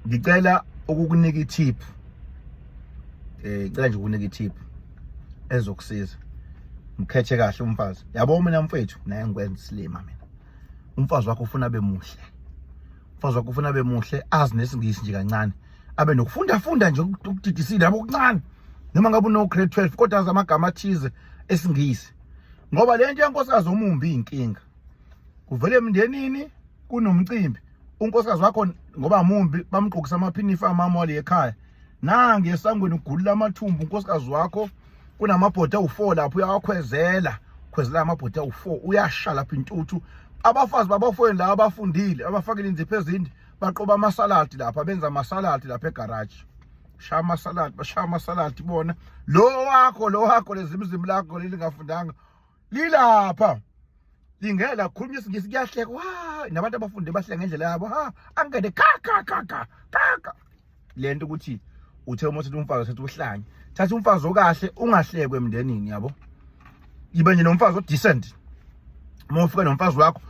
ngicela ukukunika i-tip eh ngicela nje ukunika i-tip ezokusiza mkhethe kahle umfazi yabo mina mfethu naye ngikwenza isilima mina umfazi wakho ufuna abe muhle umfazi wakho ufuna abe muhle azi nesingisi nje kancane abe nokufunda funda nje ukudidisile yabo kuncane noma ngabe uno grade 12 kodwa azi amagama athize esingisi ngoba lento yenkosikazi omumbi inkinga kuvele emndenini kunomcimbi unkosikazi wakho ngoba mumbi bamgqokisa amaphinifa amama wale ekhaya nange esangweni ugulula amathumbu unkosikazi wakho kunamabhodi awu-four lapho uyawakhwezela khwezela amabhodi awu-four uyasha lapho intuthu abafazi babafweni la abafundile abafakile inzipho ezinde baqoba amasaladi lapha benza amasaladi lapha egaraji shaya amasaladi bashaya amasaladi bona lo wakho lo wakho lezimzimu lakho lelingafundanga lilapha lingela khuluma isingisi kuyahleka wa nabantu abafunde bahleka ngendlela yabo ha angene ka ka ka ka ka lento ukuthi uthe uma uthi umfazi usethi uhlanye thatha umfazi okahle ungahlekwe emndenini yabo yibe nje nomfazi odecent uma ufika nomfazi wakho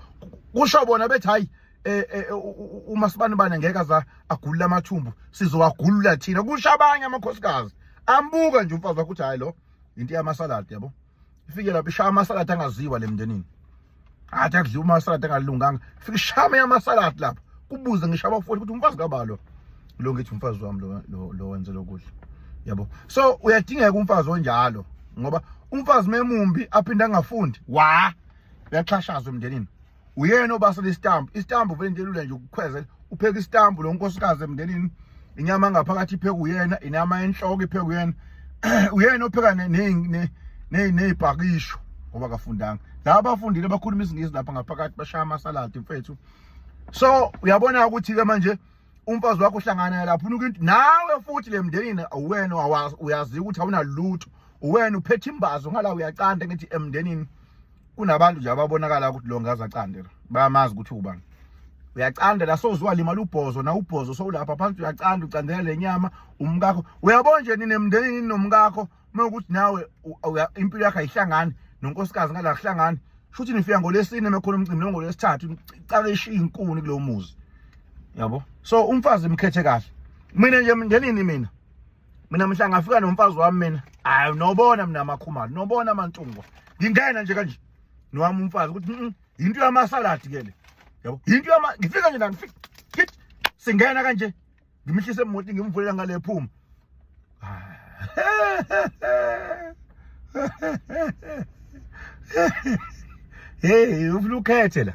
kusho bona bethi hayi eh, eh, eh, uma sibanibane ngeke aza agulula amathumbu sizowagulula thina kusho abanye amakhosikazi ambuka nje umfazi wakho uthi hayi lo into yamasaladi yabo ifike lapho ishaya amasaladi angaziwa le mndenini athi akudliwa amasaladi angalunganga ifike ishaya amanye amasaladi lapho kubuze ngisho abafowethu ukuthi umfazi kabalo lo ngithi umfazi wami lo lo wenze lokudla yabo so uyadingeka umfazi onjalo ngoba umfazi memumbi aphinde angafundi wa uyaxhashazwa emndenini uyena obasela isitambu isitambu vele into elula nje ukukhweze upheka isitambu lo nkosikazi emndenini inyama angaphakathi ipheka uyena inyama enhloko ipheka uyena uyena opheka ney'bhakisho ngoba kafundanga laba bafundile bakhuluma isingisi lapha ngaphakathi bashaya amasaladi mfethu so uyabona ukuthi-ke manje umfazi wakho uhlangana lapho unuka into nawe futhi le mndenini uwena uyaziwa ukuthi awunalutho uwena uphethe imbazo ngala uyacanda ngithi emndenini kunabantu nje ababonakala ukuthi lo ngaza candela bayamazi ukuthi ubani uyacanda la sozwa limala ubhozo na ubhozo sowulapha phansi uyacanda ucandela lenyama umkakho uyabona nje nini emndenini nomkakho mawukuthi nawe impilo yakhe ayihlangani nonkosikazi ngala kuhlangani futhi nifika ngolesine mekhona umcimbi nongolesithathu icala ishiya inkuni kulomuzi yabo so umfazi mkhethe kahle mina nje ngenini mina mina mhla ngafika nomfazi wami mina hayi nobona mina amakhumalo nobona amantungwa ngingena nje kanje nowami umfazi ukuthi mm, yinto yamasaladi ke le yabo yinto yama ngifika nje la ngifika singena kanje ngimhlise emoti ngimvulela ngale phuma hey ufuna ukhethe la